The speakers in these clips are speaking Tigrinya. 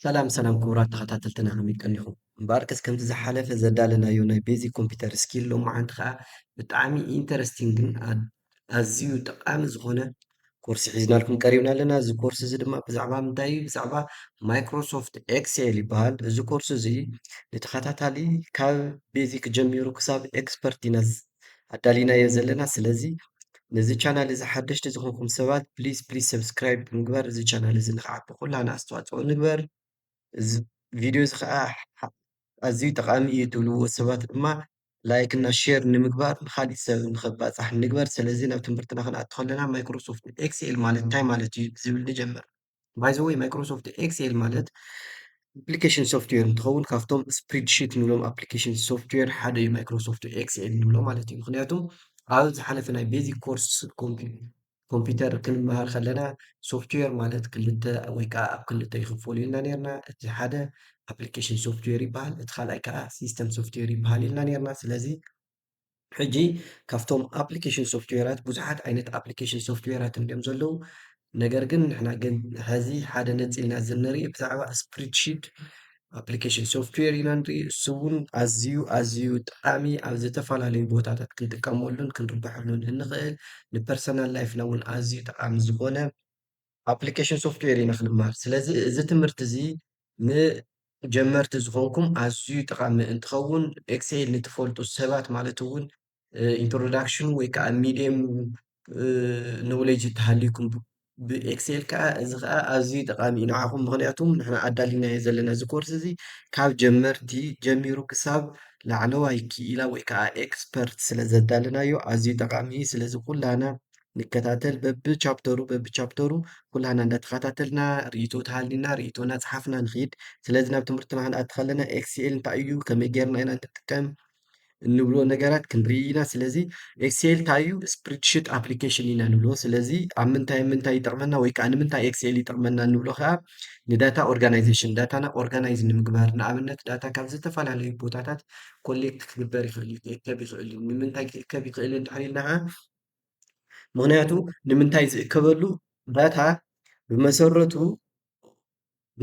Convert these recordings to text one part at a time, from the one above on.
ሰላም ሰላም ክቡራት ተኸታተልትና ከመይ ቀኒኹም እምበኣርከስ ከምቲ ዝሓለፈ ዘዳለናዮ ናይ ቤዚክ ኮምፒውተር ስኪል ሎማዓንቲ ከዓ ብጣዕሚ ኢንተረስቲንግን ኣዝዩ ጠቃሚ ዝኾነ ኮርሲ ሒዝናልኩም ቀሪብና ኣለና እዚ ኮርሲ እዚ ድማ ብዛዕባ ምንታይ እዩ ብዛዕባ ማይክሮሶፍት ኤክሴል ይበሃል እዚ ኮርሲ እዚ ንተኸታታሊ ካብ ቤዚክ ጀሚሩ ክሳብ ኤክስፐርት ኢና ኣዳሊናዮ ዘለና ስለዚ ነዚ ቻናል እዚ ሓደሽቲ ዝኾንኩም ሰባት ፕሊዝ ፕሊዝ ሰብስክራይብ ብምግባር እዚ ቻናል እዚ ንክዓቢ ኩላና ኣስተዋፅኦ ንግበር እዚ ቪድዮ እዚ ከዓ ኣዝዩ ጠቃሚ እዩ ትብልዎ ሰባት ድማ ላይክ እና ሼር ንምግባር ንካሊእ ሰብ ንከባፃሕ ንግበር ስለዚ ናብ ትምህርትና ክንኣቱ ከለና ማይክሮሶፍት ኤክስኤል ማለት እንታይ ማለት እዩ ብዝብል ንጀምር ባይዘወይ ማይክሮሶፍት ኤክሴል ማለት ኣፕሊኬሽን ሶፍትዌር እንትኸውን ካብቶም ስፕሪድሽት ንብሎም ኣፕሊኬሽን ሶፍትዌር ሓደ እዩ ማይክሮሶፍት ኤክስኤል ንብሎ ማለት እዩ ምክንያቱም ኣብ ዝሓለፈ ናይ ቤዚክ ኮርስ ኮምፒውተር ክንመሃር ከለና ሶፍትዌር ማለት ክልተ ወይ ከዓ ኣብ ክልተ ይኽፈሉ ኢልና ነርና እቲ ሓደ ኣፕሊኬሽን ሶፍትዌር ይበሃል እቲ ካልኣይ ከዓ ሲስተም ሶፍትዌር ይበሃል ኢልና ነርና ስለዚ ሕጂ ካብቶም ኣፕሊኬሽን ሶፍትዌራት ብዙሓት ዓይነት ኣፕሊኬሽን ሶፍትዌራት እንድዮም ዘለዉ ነገር ግን ንሕና ግን ሕዚ ሓደ ነፂልና እዚ ንርኢ ብዛዕባ ስፕሪድሺት ኣፕሊኬሽን ሶፍትዌር ኢና ንርኢ እሱ እውን ኣዝዩ ኣዝዩ ጠቃሚ ኣብ ዝተፈላለዩ ቦታታት ክንጥቀመሉን ክንርብሐሉን እንኽእል ንፐርሰናል ላይፍና እውን ኣዝዩ ጠቃሚ ዝኾነ ኣፕሊኬሽን ሶፍትዌር ኢና ክንመሃር። ስለዚ እዚ ትምህርቲ እዚ ንጀመርቲ ዝኾንኩም ኣዝዩ ጠቓሚ እንትኸውን ኤክሴል ንትፈልጡ ሰባት ማለት እውን ኢንትሮዳክሽኑ ወይ ከዓ ሚድየም ኖውሌጅ እንተሃልዩኩም ብኤክሴል ከዓ እዚ ከዓ ኣዝዩ ጠቓሚ እዩ ንዓኹም ምኽንያቱ ንሕና ኣዳሊናዮ ዘለና እዚ ኮርስ እዚ ካብ ጀመርቲ ጀሚሩ ክሳብ ላዕለዋይ ክኢላ ወይ ከዓ ኤክስፐርት ስለዘዳለናዮ ኣዝዩ ጠቓሚ እዩ። ስለዚ ኩላህና ንከታተል በብቻፕተሩ በብቻፕተሩ ኩላህና እንዳተኸታተልና ርእይቶ ተሃሊና ርእይቶ እናፀሓፍና ንኽይድ ስለዚ ናብ ትምህርትና ክንኣቲ ከለና ኤክስኤል እንታይ እዩ ከመይ ጌርና ኢና ንጥቀም እንብሎ ነገራት ክንርኢ ኢና ስለዚ ኤክስኤል እንታይ እዩ ስፕሪድሽት ኣፕሊኬሽን ኢና ንብሎ ስለዚ ኣብ ምንታይ ምንታይ ይጠቕመና ወይ ከዓ ንምንታይ ኤክስኤል ይጠቕመና ንብሎ ከዓ ንዳታ ኦርጋናይዜሽን ዳታና ኦርጋናይዝ ንምግባር ንኣብነት ዳታ ካብ ዝተፈላለዩ ቦታታት ኮሌክት ክግበር ይኽእል እዩ ክእከብ ይኽእል እዩ ንምንታይ ክእከብ ይኽእል እንድሕር ኢልና ከዓ ምክንያቱ ንምንታይ ዝእከበሉ ዳታ ብመሰረቱ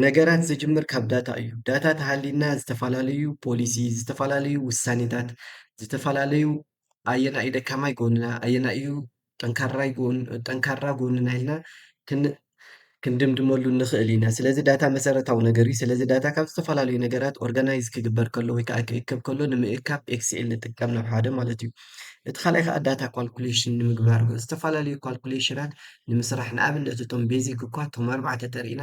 ነገራት ዝጅምር ካብ ዳታ እዩ። ዳታ ተሃልዩና ዝተፈላለዩ ፖሊሲ፣ ዝተፈላለዩ ውሳኔታት፣ ዝተፈላለዩ ኣየናይ እዩ ደካማይ ጎንና፣ ኣየናይ እዩ ጠንካራይ ጎን ጠንካራ ጎንና ኢልና ክን ክንድምድመሉ ንኽእል ኢና። ስለዚ ዳታ መሰረታዊ ነገር እዩ። ስለዚ ዳታ ካብ ዝተፈላለዩ ነገራት ኦርጋናይዝ ክግበር ከሎ ወይ ከዓ ክእከብ ከሎ ንምእካብ ኤክስኤል ንጥቀም ናብ ሓደ ማለት እዩ። እቲ ካልኣይ ከዓ ዳታ ኳልኩሌሽን ንምግባር እዩ። ዝተፈላለዩ ኳልኩሌሽናት ንምስራሕ ንኣብነት እቶም ቤዚክ እኳ እቶም ኣርባዕተ ተሪኢና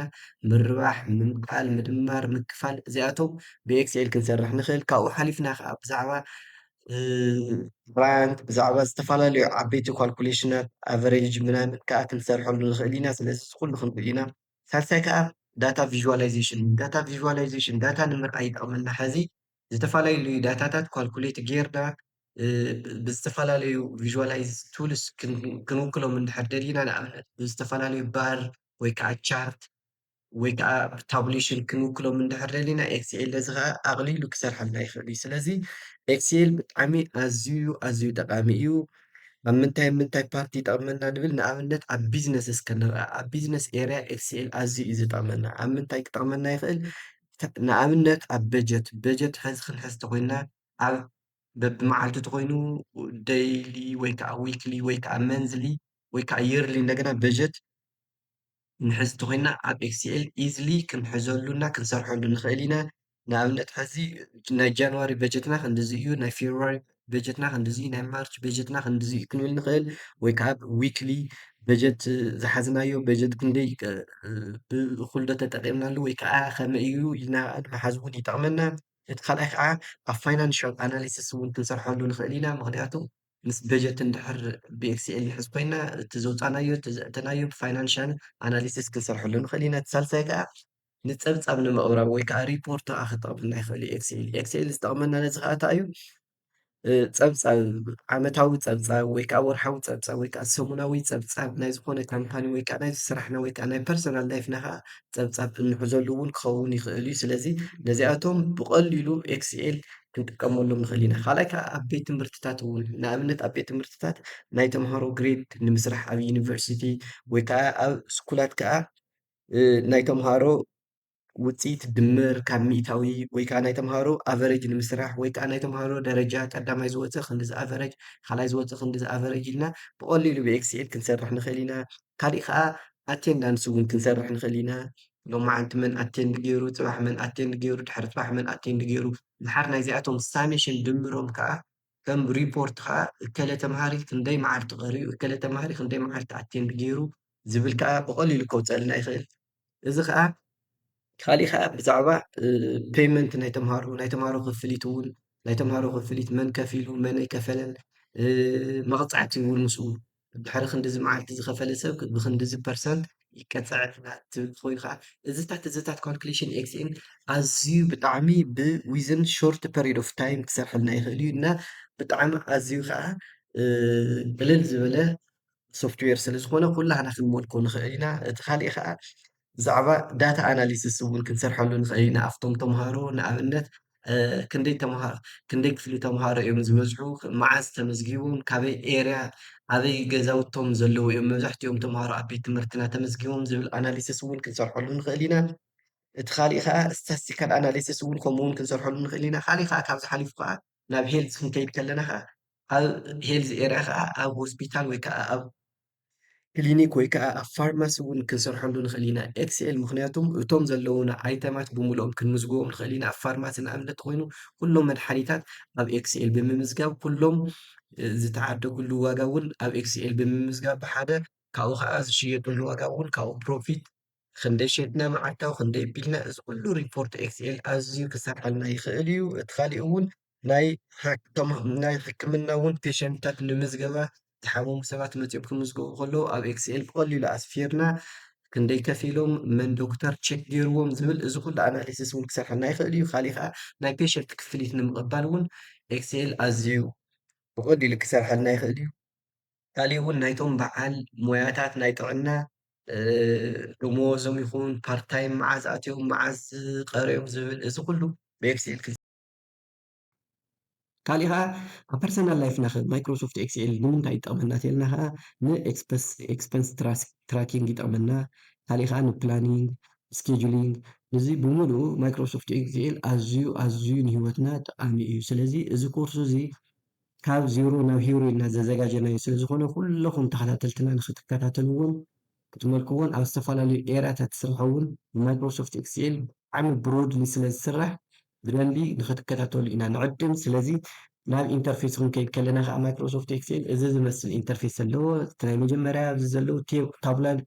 ምርባሕ፣ ምምቃል፣ ምድማር፣ ምክፋል እዚኣቶም ብኤክስኤል ክንሰርሕ ንኽእል። ካብኡ ሓሊፍና ከዓ ብዛዕባ ራያንት ብዛዕባ ዝተፈላለዩ ዓበይቲ ኳልኩሌሽናት ኣቨሬጅ ምናምን ከዓ ክንሰርሐሉ ንኽእል ኢና። ስለዚ እዚ ኩሉ ክንርኢ ኢና። ሳልሳይ ከዓ ዳታ ቪዥዋላይዜሽን እዩ። ዳታ ቪዥዋላይዜሽን ዳታ ንምርኣይ ይጠቕመና። ሕዚ ዝተፈላለዩ ዳታታት ኳልኩሌት ጌርና ብዝተፈላለዩ ቪዥዋላይዝ ቱልስ ክንውክሎም እንድሕር ደሊና ንኣብነት ብዝተፈላለዩ ባር ወይ ከዓ ቻርት ወይ ከኣ ብታቡሌሽን ክንውክሎም እንድሕር ደሊና ኤክስኤል ነዚ ከኣ ኣቕሊሉ ክሰርሓልና ይኽእል እዩ። ስለዚ ኤክስኤል ብጣዕሚ ኣዝዩ ኣዝዩ ጠቓሚ እዩ። ኣብ ምንታይ ኣብ ምንታይ ፓርቲ ይጠቕመና ንብል ንኣብነት ኣብ ቢዝነስ እስከ ንርኣ ኣብ ቢዝነስ ኤርያ ኤክስኤል ኣዝዩ እዩ ዝጠቕመና። ኣብ ምንታይ ክጠቕመና ይኽእል? ንኣብነት ኣብ በጀት በጀት ሕዚ ክንሕዝ ተኾይንና ኣብ በብመዓልቱ ተኾይኑ ደይሊ ወይ ከኣ ዊክሊ ወይ ከኣ መንዝሊ ወይ ከኣ የርሊ እንደገና በጀት ንሕዝ እንተኾይንና ኣብ ኤክስኤል ኢዝሊ ክንሕዘሉ እና ክንሰርሐሉ ንኽእል ኢና። ንኣብነት ሕዚ ናይ ጃንዋሪ በጀትና ክንድዚ እዩ፣ ናይ ፌብሩዋሪ በጀትና ክንድዚ እዩ፣ ናይ ማርች በጀትና ክንድዚ እዩ ክንብል ንኽእል ወይ ከዓ ዊክሊ በጀት ዝሓዝናዮ በጀት ክንደይ ብእኹል ዶ ተጠቒምናሉ ወይ ከዓ ከመይ እዩ ኢልና ንምሓዝ እውን ይጠቕመና። እቲ ካልኣይ ከዓ ኣብ ፋይናንሻል ኣናሊሲስ እውን ክንሰርሐሉ ንኽእል ኢና ምኽንያቱ ምስ በጀት እንድሕር ብኤክስኤል ንሕዝ ኮይና እቲ ዘውፃእናዮ እቲ ዘእተናዮ ብፋይናንሻል ኣናሊሲስ ክንሰርሐሉ ንኽእል ኢና። እቲ ሳልሳይ ከዓ ንፀብፃብ ንምቕራብ ወይ ከዓ ሪፖርት ከዓ ክጠቕመና ይኽእል እዩ ኤክስኤል። ኤክስኤል ዝጠቕመና ነዚ ከዓ እንታይ እዩ? ፀብፃብ ዓመታዊ ፀብፃብ ወይ ከዓ ወርሓዊ ፀብፃብ ወይ ከዓ ሰሙናዊ ፀብፃብ ናይ ዝኾነ ካምፓኒ ወይ ከዓ ናይ ስራሕና ወይ ከዓ ናይ ፐርሰናል ላይፍና ከዓ ፀብፃብ እንሕዘሉ እውን ክኸውን ይኽእል እዩ። ስለዚ ነዚኣቶም ብቐሊሉ ኤክስኤል ክንጥቀመሉ ንኽእል ኢና። ካልኣይ ከዓ ኣብ ቤት ትምህርትታት እውን ንኣብነት ኣብ ቤት ትምህርትታት ናይ ተምሃሮ ግሬድ ንምስራሕ ኣብ ዩኒቨርሲቲ ወይ ከዓ ኣብ ስኩላት ከዓ ናይ ተምሃሮ ውፅኢት ድምር ካብ ሚእታዊ ወይ ከዓ ናይ ተምሃሮ ኣቨሬጅ ንምስራሕ ወይ ከዓ ናይ ተምሃሮ ደረጃ ቀዳማይ ዝወፀ ክንድዚ ኣቨሬጅ፣ ካልኣይ ዝወፀ ክንድዚ ኣቨሬጅ ኢልና ብቐሊሉ ብኤክስኤል ክንሰርሕ ንኽእል ኢና። ካሊእ ከኣ ኣቴንዳ ኣንስ ውን ክንሰርሕ ንክእል ኢና ሎማዓንቲ መን ኣቴንድ ጌሩ ፅባሕ መን ኣቴንድ ጌሩ ድሕሪ ፅባሕ መን ኣቴንድ ጌሩ ድሓር ናይዚኣቶም ሳሜሽን ድምሮም ከኣ ከም ሪፖርት ከኣ እከለ ተምሃሪ ክንደይ ማዓልቲ ቀሪኡ እከለ ተምሃሪ ክንደይ ማዓልቲ ኣቴንድ ጌሩ ዝብል ከኣ ብቀሊሉ ከውፀልና ይክእል እዚ ከዓ ካሊእ ከዓ ብዛዕባ ፔመንት ናይ ተምሃሮ ናይ ተምሃሮ ክፍሊት እውን ናይ ተምሃሮ ክፍሊት መን ከፊሉ መን ኣይከፈለን መቕፃዕቲ እውን ምስኡ ድሕሪ ክንዲዚ መዓልቲ ዝኸፈለ ሰብ ብክንዲዚ ፐርሰንት ይቀፃዕ ትብል ኮይኑ ከዓ እዚታት እዚታት ካልኩሌሽን ኤክስኤል ኣዝዩ ብጣዕሚ ብዊዝን ሾርት ፐሪድ ኦፍ ታይም ክሰርሐልና ይኽእል እዩ እና ብጣዕሚ ኣዝዩ ከዓ ቅልል ዝበለ ሶፍትዌር ስለ ዝኾነ ኩላህና ክንመልኮ ንኽእል ኢና እቲ ካሊእ ኸኣ ብዛዕባ ዳታ ኣናሊስስ እውን ክንሰርሐሉ ንኽእል ኢና ኣብቶም ተምሃሮ ንኣብነት ክንደይ ተምሃሮ ክንደይ ክፍሊ ተምሃሮ እዮም ዝበዝሑ መዓዝ ተመዝጊቦም ካበይ ኤርያ ኣበይ ገዛውቶም ዘለዉ እዮም መብዛሕትኦም ተምሃሮ ኣብ ቤት ትምህርትና ተመዝጊቦም ዝብል ኣናሊስስ እውን ክንሰርሐሉ ንኽእል ኢና እቲ ካሊእ ከዓ ስታስቲካል ኣናሊስስ እውን ከምኡ እውን ክንሰርሐሉ ንኽእል ኢና ካሊእ ከዓ ካብዚ ሓሊፉ ከዓ ናብ ሄልዝ ክንከይድ ከለና ከኣ ኣብ ሄልዝ ኤርያ ከኣ ኣብ ሆስፒታል ወይ ከኣ ኣብ ክሊኒክ ወይ ከኣ ኣብ ፋርማሲ እውን ክንሰርሐሉ ንኽእል ኢና። ኤክስኤል ምኽንያቱም እቶም ዘለዉና ኣይተማት ብምልኦም ክንምዝግቦም ንኽእል ኢና። ኣብ ፋርማሲ ንኣብነት ኮይኑ ኩሎም መድሓኒታት ኣብ ኤክስኤል ብምምዝጋብ ኩሎም ዝተዓደግሉ ዋጋ እውን ኣብ ኤክስኤል ብምምዝጋብ ብሓደ ካብኡ ከኣ ዝሽየጥሉ ዋጋ እውን ካብኡ ፕሮፊት ኽንደይ ሸይጥና መዓልታዊ ኽንደይ ኣቢልና እዚ ኩሉ ሪፖርት ኤክስኤል ኣዝዩ ክሰርሓልና ይኽእል እዩ። እቲ ካሊእ እውን ናይ ናይ ሕክምና እውን ፔሸንትታት ንምዝገባ ዝሓመሙ ሰባት መፂኦም ክምዝገቡ ከለዉ ኣብ ኤክስኤል ብቐሊሉ ኣስፊርና ክንደይ ከፊሎም መን ዶክተር ቼክ ገይርዎም ዝብል እዚ ኩሉ ኣናሊሲስ እውን ክሰርሓልና ይኽእል እዩ። ካሊእ ከዓ ናይ ፔሸንት ክፍሊት ንምቕባል እውን ኤክስኤል ኣዝዩ ብቐሊሉ ክሰርሓልና ይኽእል እዩ። ካሊእ እውን ናይቶም በዓል ሞያታት ናይ ጥዕና ደመወዞም ይኹን ፓርት ታይም መዓዝ ኣትዮም መዓዝ ቀርዮም ዝብል እዚ ኩሉ ብኤክስኤል ካሊእ ከዓ ኣብ ፐርሰናል ላይፍና ከ ማይክሮሶፍት ኤክስኤል ንምንታይ ይጠቅመና ተልና ከዓ ንኤክስፐንስ ትራኪንግ ይጠቅመና ካሊእ ከዓ ንፕላኒንግ ስኬጁሊንግ እዚ ብምሉኡ ማይክሮሶፍት ኤክስኤል ኣዝዩ ኣዝዩ ንሂወትና ጠቃሚ እዩ ስለዚ እዚ ኮርስ እዚ ካብ ዜሮ ናብ ሂሮ ኢልና ዘዘጋጀናዮ ስለ ዝኾነ ኩለኹም ተኸታተልትና ንኽትከታተልዎን ክትመልክዎን ኣብ ዝተፈላለዩ ኤርያታት ስርሑ ውን ብማይክሮሶፍት ኤክስኤል ብጣዕሚ ብሮድሊ ስለ ዝስራሕ ብደንቢ ንኽትከታተሉ ኢና ንዕድም ስለዚ ናብ ኢንተርፌስ ኽንከይድ ከለና ኸኣ ማይክሮሶፍት ኤክስኤል እዚ ዝመስል ኢንተርፌስ ኣለዎ እቲ ናይ መጀመርያ ኣብዚ ዘለዉ ታቡላር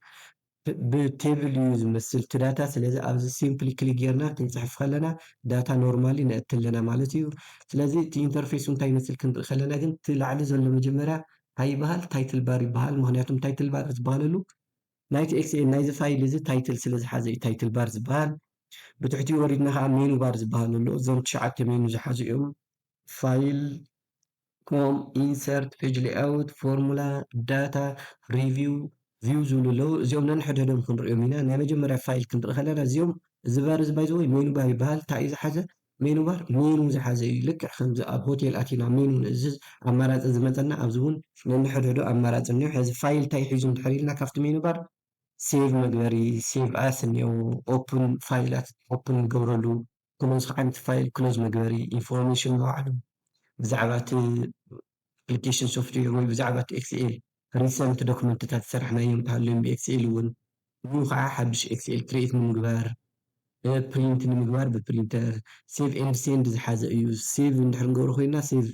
ብ ቴብል እዩ ዝመስል እቲ ዳታ ስለዚ ኣብዚ ሲምፕሊ ክሊክ ጌርና ክንጽሕፍ ከለና ዳታ ኖርማሊ ነእቲ ኣለና ማለት እዩ ስለዚ እቲ ኢንተርፌሱ እንታይ ይመስል ክንርኢ ከለና ግን እቲ ላዕሊ ዘሎ መጀመርያ ታይ ይበሃል ታይትል ባር ይበሃል ምክንያቱ ታይትል ባር ዝበሃለሉ ናይቲ ኤክስኤል ናይዚ ፋይል እዚ ታይትል ስለ ዝሓዘ እዩ ታይትል ባር ዝበሃል ብትሕቲኡ ወሪድና ከኣ ሜኑ ባር ዝበሃል ኣሎ እዞም ትሽዓተ ሜኑ ዝሓዙ እዮም ፋይል ከም ኢንሰርት፣ ፔጅ ሌይኣውት፣ ፎርሙላ፣ ዳታ፣ ሪቪው፣ ቪው ዝብሉ ኣለዉ። እዚኦም ነንሕድሕዶም ክንርእዮም ኢና። ናይ መጀመርያ ፋይል ክንርኢ ከለና እዚኦም እዚ ባር እዚ ባይ ዘ ወይ ሜኑ ባር ይበሃል። እንታይ እዩ ዝሓዘ? ሜኑ ባር ሜኑ ዝሓዘ እዩ። ልክዕ ከምዚ ኣብ ሆቴል ኣቲና ሜኑ ንእዝዝ ኣማራጺ ዝመጸና ኣብዚ እውን ነንሕድሕዱ ኣማራጺ እኒኦ። ሕዚ ፋይል እንታይ ሒዙ እንድሕር ኢልና ካብቲ ሜኑ ባር ሴቭ መግበሪ፣ ሴቭ ኣስ፣ እኒኦ። ኦፕን ፋይላት ኦፕን ንገብረሉ። ክሎዝ ሓንቲ ፋይል ክሎዝ መግበሪ ኢንፎርሜሽን ንባዕሉ ብዛዕባ እቲ ኣፕሊኬሽን ሶፍትዌር ወይ ብዛዕባ እቲ ኤክስኤል ሪሰንት ዶክመንትታት ዝሰራሕናዮም እንተሃልዮም ብኤክስኤል እውን ንዩ ከዓ ሓዱሽ ኤክስኤል ክርኤት ንምግባር ፕሪንት ንምግባር ብፕሪንተር ሴቭ ኤንድ ሴንድ ዝሓዘ እዩ ሴቭ እንድሕር ንገብሮ ኮይና ሴቭ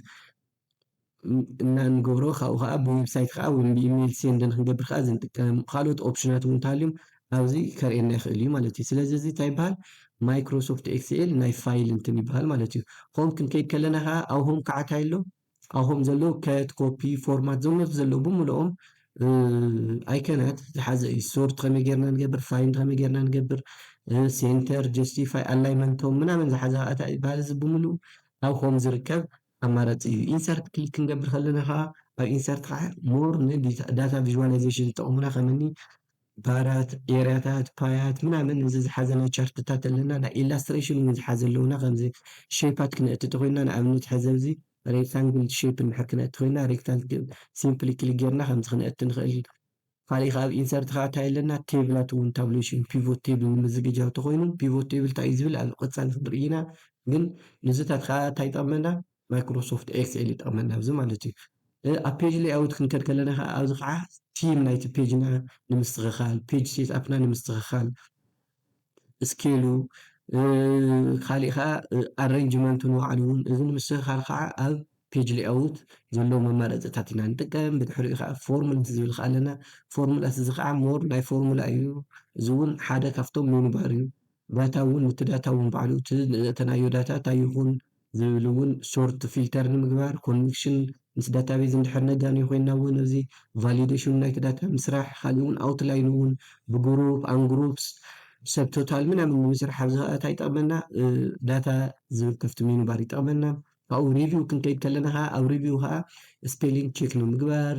እና እንገብሮ ካብኡ ከኣ ብዌብሳይት ከኣ ወይ ብኢሜል ሴንድ ንክንገብር ከኣ እዚ ንጥቀም ካልኦት ኦፕሽናት እውን እንተሃልዮም ኣብዚ ከርእየና ይኽእል እዩ ማለት እዩ ስለዚ እዚ እንታይ ይበሃል ማይክሮሶፍት ኤክስኤል ናይ ፋይል እንትን ይበሃል ማለት እዩ ሆም ክንከይድ ከለና ከኣ ኣብ ሆም ከዓ እንታይ ኣሎ ኣብ ሆም ዘሎ ከት ኮፒ ፎርማት ዘመት ዘሎ ብምልኦም ኣይከናት ዝሓዘ እዩ ሶርት ከመይ ጌርና ንገብር ፋይንድ ከመይ ጌርና ንገብር ሴንተር ጀስቲፋይ ኣላይመንቶም ምናምን ዝሓዘ ኣታ ይበሃል እዚ ብምሉእ ኣብ ሆም ዝርከብ ኣማራጺ እዩ። ኢንሰርት ክሊክ ክንገብር ከለና ከኣ ኣብ ኢንሰርት ከኣ ሞር ን ዳታ ቪዥዋላይዜሽን ዝጠቕሙና ከም እኒ ባራት፣ ኤርያታት፣ ፓያት ምናምን እዚ ዝሓዘ ናይ ቻርትታት ኣለና። ናይ ኢላስትሬሽን እውን ዝሓዘ ኣለዉና ከምዚ ሸይፓት ክነእቲ እንተኾይንና ንኣብነት ሕዚ ኣብዚ ሬክታንግል ሸይፕ እንድሕር ክነእቲ ኮይንና ሬክታንግል ሲምፕሊ ክሊክ ጌርና ከምዚ ክነእቲ ንኽእል። ካሊእ ከኣ ኣብ ኢንሰርት ከኣ ታይ ኣለና ቴብላት እውን ታብሌሽን ፒቮት ቴብል ንምዝግጃው ተኾይኑ ፒቮት ቴብል ታይ እዩ ዝብል ኣብ ቐፃሊ ክንሪኢ ኢና ግን ንዝታት ከኣ ታይ ይጠቕመና ማይክሮሶፍት ኤክስኤል ይጠቕመና ኣብዚ ማለት እዩ ኣብ ፔጅ ሌይኣውት ክንከድ ከለና ከኣ ኣብዚ ከኣ ቲም ናይቲ ፔጅና ንምስትኽኻል ፔጅ ሴትኣፕና ንምስትኽኻል ስኬሉ ካሊእ ከኣ ኣረንጅመንቱ ንባዕሉ ውን እዚ ንምስትኽኻል ከኣ ኣብ ፔጅ ሌኣውት ዘለዉ መማረፂታት ኢና ንጥቀም ብድሕሪኡ ከኣ ፎርምት ዝብል ከኣ ኣለና ፎርምላት እዚ ከኣ ሞር ናይ ፎርሙላ እዩ እዚ ውን ሓደ ካብቶም ሜኑ ባር እዩ ዳታ ውን እቲ ዳታ ውን ባዕሉ እቲ ዘእተናዮ ዳታ እንታይ ይኹን ዝብል እውን ሶርት ፊልተር ንምግባር ኮንቪክሽን ምስ ዳታቤዝ እንድሕር ነጋንዮ ኮይንና እውን ኣብዚ ቫሊደሽኑ ናይቲ ዳታ ምስራሕ ካሊእ እውን ኣውትላይኑ እውን ብግሩፕ ኣን ግሩፕስ ሰብ ቶታል ምናምን ንምስራሕ ኣብዚ ከዓ እንታይ ይጠቅመና ዳታ ዝብል ከፍቲ ሚኑ ባር ይጠቅመና ካብኡ ሪቪው ክንከይድ ከለና ከዓ ኣብ ሪቪው ከዓ ስፔሊንግ ቼክ ንምግባር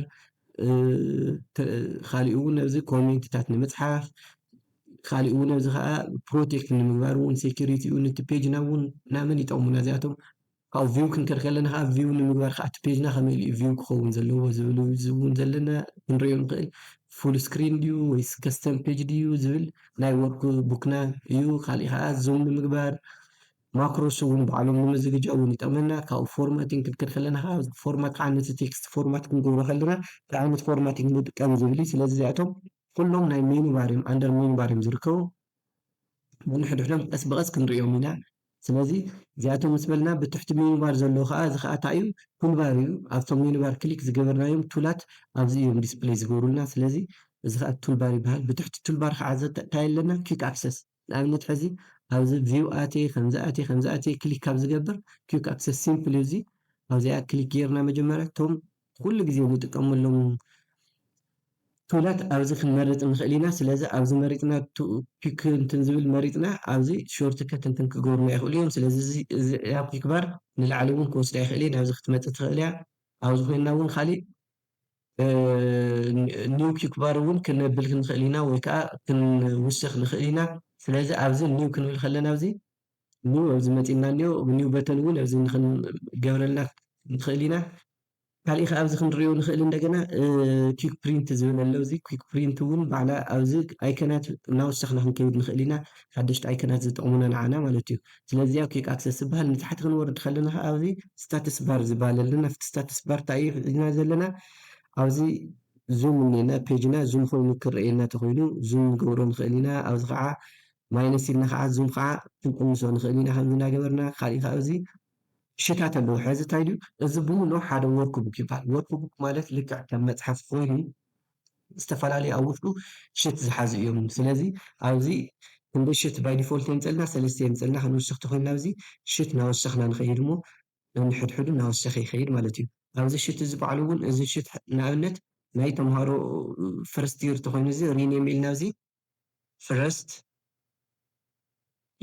ካሊእ እውን ኣብዚ ኮሜንትታት ንምፅሓፍ ካሊእ እውን እዚ ከዓ ፕሮቴክት ንምግባር እውን ሴኩሪቲ እውን እቲ ፔጅና እውን ናመን ይጠቕሙና እዚኣቶም ካብኡ ቪው ክንከድ ከለና ከዓ ቪው ንምግባር ከዓ እቲ ፔጅና ከመይ ኢሉ እዩ ቪው ክኸውን ዘለዎ ዝብል እውን ዘለና ክንሪኦ ንኽእል ፉል ስክሪን ድዩ ወይስ ከስተም ፔጅ ድዩ ዝብል ናይ ወርክ ቡክና እዩ ካሊእ ከዓ ዙም ንምግባር ማክሮስ እውን ባዕሎም ንምዝግጃው እውን ይጠቕመና ካብኡ ፎርማቲንግ ክንከድ ከለና ከዓ ፎርማት ከዓ ነቲ ቴክስት ፎርማት ክንገብሮ ከለና እንታይ ዓይነት ፎርማቲንግ ንጥቀም ዝብል እዩ ስለዚ እዚኣቶም ኩሎም ናይ ሚኒባር እዮም ኣንደር ሚኒባር እዮም ዝርከቡ ነንሕድሕዶም ቀስ ብቀስ ክንርእዮም ኢና ስለዚ እዚኣቶም ምስ በልና ብትሕቲ ሚኒባር ዘለዉ ከኣ እዚ ከኣ ታይ እዩ ቱልባር እዩ ኣብቶም ሚኒባር ክሊክ ዝገበርናዮም ቱላት ኣብዚ እዮም ዲስፕለይ ዝገብሩልና ስለዚ እዚ ከኣ ቱልባር ይበሃል ብትሕቲ ቱልባር ከኣ ታይ ኣለና ኪክ ኣክሰስ ንኣብነት ሕዚ ኣብዚ ቪው ኣትየ ከምዚ ኣትየ ከምዚ ኣትየ ክሊክ ካብ ዝገብር ኪውክ ኣክሰስ ሲምፕሊ እዚ ኣብዚኣ ክሊክ ጌርና መጀመርያ እቶም ኩሉ ግዜ ንጥቀመሎም ቱላት ኣብዚ ክንመርጽ ንኽእል ኢና ስለዚ ኣብዚ መሪጽና ኪውክ እንትን ዝብል መሪጽና ኣብዚ ሾርት ከት እንትን ክገብሩና ይኽእሉ እዮም ስለዚ እዚ እዚኣ ኪውክ ባር ንላዕሊ እውን ክወስዳ ይኽእል እየ ናብዚ ክትመጽእ ትኽእል እያ ኣብዚ ኮይንና እውን ካሊእ ኒው ኪክባር እውን ክነብል ክንኽእል ኢና ወይ ከዓ ክንውስኽ ንኽእል ኢና። ስለዚ ኣብዚ ኒው ክንብል ከለና ኣብዚ ኒው ኣብዚ መፂና እኒኦ ኒው በተን እውን ኣብዚ ክንገብረልና ንኽእል ኢና። ካሊእ ከዓ ኣብዚ ክንሪኦ ንኽእል እንደገና ኪክ ፕሪንት ዝብል ኣሎ እዚ ኪክ ፕሪንት እውን ባዕላ ኣብዚ ኣይከናት እናወሰኽና ክንከይድ ንኽእል ኢና ሓደሽቲ ኣይከናት ዝጠቕሙና ንዓና ማለት እዩ። ስለዚ ኦኬ ኣክሰስ ዝበሃል ንታሕቲ ክንወርድ ከለና ከኣ ኣብዚ ስታትስ ባር ዝበሃል ኣለና ኣብቲ ስታትስ ባር እንታይ እዩ ሒዝና ዘለና ኣብዚ ዙም እኔና ፔጅና ዙም ኮይኑ ክረኣየና ተኮይኑ ዙም ንገብሮ ንክእል ኢና ኣብዚ ከዓ ማይነስ ኢልና ከዓ ዙም ከዓ ክንቅንሶ ንክእል ኢና ከምዚ እናገበርና ካሊእ ከዓ ኣብዚ ሽታት ኣለዎ ሕዚ እንታይ ድዩ እዚ ብምሉእ ሓደ ወርክ ቡክ ይበሃል ወርክ ቡክ ማለት ልክዕ ከም መፅሓፍ ኮይኑ ዝተፈላለዩ ኣብ ውሽጡ ሽት ዝሓዙ እዮም ስለዚ ኣብዚ ክንደይ ሽት ባይ ዲፎልት የምፀልና ሰለስተ የምፀልና ክንውስኽ ተኾይንና ኣብዚ ሽት ናወሰኽና ንኸይድ እሞ ነንሕድሕዱ ናወሰኸ ይኸይድ ማለት እዩ ኣብዚ ሽት እዚ ባዕሉ እውን እዚ ሽት ንኣብነት ናይ ተምሃሮ ፈርስት ይር ተኾይኑ እዚ ሪኔም ኢልና ኣብዚ ፍረስት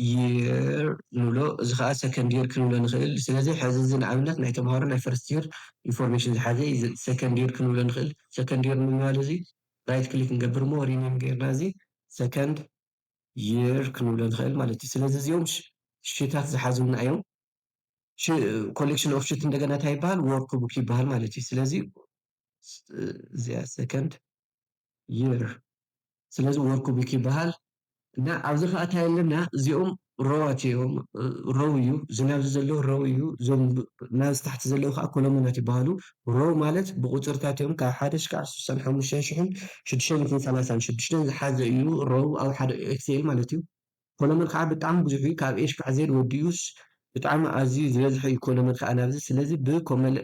ይር ንብሎ እዚ ከኣ ሰከንድ ይር ክንብሎ ንኽእል ስለዚ ሕዚ እዚ ንኣብነት ናይ ተምሃሮ ናይ ፈርስት ይር ኢንፎርሜሽን ዝሓዘ እዩ እዚ ሰከንድ ይር ክንብሎ ንኽእል ሰከንድ ይር ንምባል እዚ ራይት ክሊክ ንገብር እሞ ሪኔም ጌርና እዚ ሰከንድ ይር ክንብሎ ንኽእል ማለት እዩ ስለዚ እዚኦም ሽታት ዝሓዙና እዮም ኮሌክሽን ኦፍ ሽት እንደገና እንታይ ይበሃል ወርክ ቡክ ይበሃል ማለት እዩ ስለዚ እዚኣ ሰከንድ year ስለዚ ወርክቡክ ይበሃል። እና ኣብዚ ከኣ ታይ ኣለና እዚኦም ሮዋት እዮም ሮው እዩ ዝናብ እዚ ዘሎ ሮው እዩ እዞም ናብ ታሕቲ ዘለዉ ከኣ ኮሎመናት ይበሃሉ ሮው ማለት ብቁጽርታት እዮም ካብ ሓደ ሽካዕ ስሳን ሓሙሽተን ሽሕን ሽዱሽተ ሚእትን ሰላሳን ሽዱሽተን ዝሓዘ እዩ ሮው ኣብ ሓደ ኤክስኤል ማለት እዩ ኮለመን ከኣ ብጣዕሚ ብዙሕ እዩ ካብ ኤሽ ክዕ ዜድ ወዲኡስ ብጣዕሚ ኣዝዩ ዝበዝሐ እዩ ኮለመን ከኣ ናብዚ ስለዚ ብ ኮመል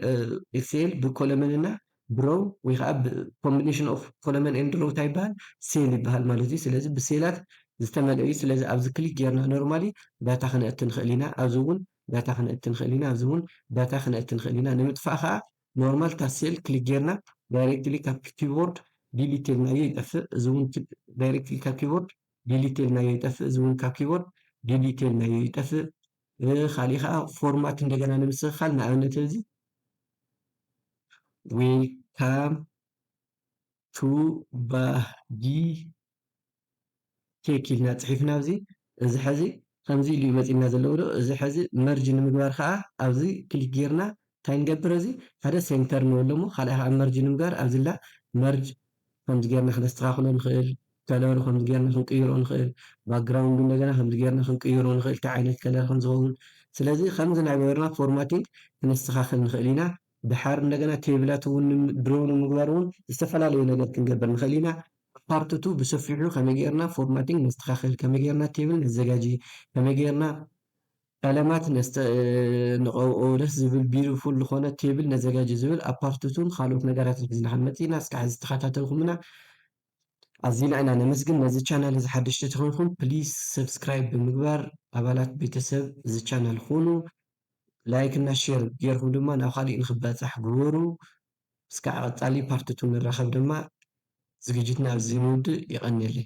ኤክስኤል ብ ኮለመን እና ብ ሮው ወይ ከኣ ብ ኮምቢነሽን ኦፍ ኮለመን ኤንድ ሮው ታይ ይበሃል ሴል ይበሃል ማለት እዩ ስለዚ ብ ሴላት ዝተመልኣ እዩ ስለዚ ኣብዚ ክሊክ ጌርና ኖርማሊ ዳታ ክነእቲ ንክእል ኢና ኣብዚ ውን ዳታ ክነእቲ ንክእል ኢና ኣብዚ ውን ዳታ ክነእቲ ንክእል ኢና ንምጥፋእ ከኣ ኖርማል እታ ሴል ክሊክ ጌርና ዳይሬክትሊ ካብ ኪቦርድ ዲሊት ኢልናዮ ይጠፍእ እዚ ውን ዳይሬክትሊ ካብ ኪቦርድ ዲሊት ኢልናዮ ይጠፍእ እዚ ውን ካብ ኪቦርድ ዲሊት ኢልናዮ ይጠፍእ ኻሊእ ኸኣ ፎርማት እንደገና ንምስትኽኻል ንኣብነት እዚ ዌልካም ቱ ባህጊ ቴክ ኢልና ጽሒፍና ኣብዚ እዚ ሐዚ ከምዚ ኢሉ እዩ መጺና ዘለዎ ዶ እዚ ሐዚ መርጅ ንምግባር ኸኣ ኣብዚ ክሊክ ጌርና ታይ ንገብር እዚ ሓደ ሴንተር ንበሎ እሞ ካልኣይ ካዓ መርጅ ንምግባር ኣብዚላ መርጅ ከምዚ ገይርና ክነስተካክሎ ንክእል ከለሩ ከምዚ ገይርና ክንቅይሮ ንክእል ባግራውንዱ እንደገና ከምዚ ገይርና ክንቅይሮ ንክእል ታይ ዓይነት ከለር ከምዝከውን ስለዚ ከምዚ ናገበርና ፎርማቲንግ ክነስተካክል ንክእል ኢና ዳሓር እንደገና ቴብላት እውን ድሮው ንምግባር እውን ዝተፈላለዩ ነገር ክንገብር ንክእል ኢና ኣብ ፓርት ቱ ብሰፊሑ ከመይ ገይርና ፎርማቲንግ ነስተካክል ከመይ ገይርና ቴብል ነዘጋጂ ከመይ ገይርና ቀለማት ነስተ ንቐብኦ ደስ ዝብል ቢርፉል ልኾነ ቴብል ነዘጋጅ ዝብል ኣብ ፓርት ቱን ኻልኦት ነገራትን ሒዝናኸም መጺእና እስካዕ እዚ ዝተኻታተልኩምና ኣዚና ኢና ነመስግን ነዚ ቻናል እዚ ሓደሽቲ ተኾይንኩም ፕሊስ ሰብስክራይብ ብምግባር ኣባላት ቤተሰብ እዚ ቻናል ኹኑ ላይክ እና ሼር ጌርኩም ድማ ናብ ኻሊእ ንኽባጻሕ ግበሩ እስካዕ ቐጻሊ ፓርት ቱን ንራኸብ ድማ ዝግጅትና ኣብዚ ንውድእ የቐንየለይ።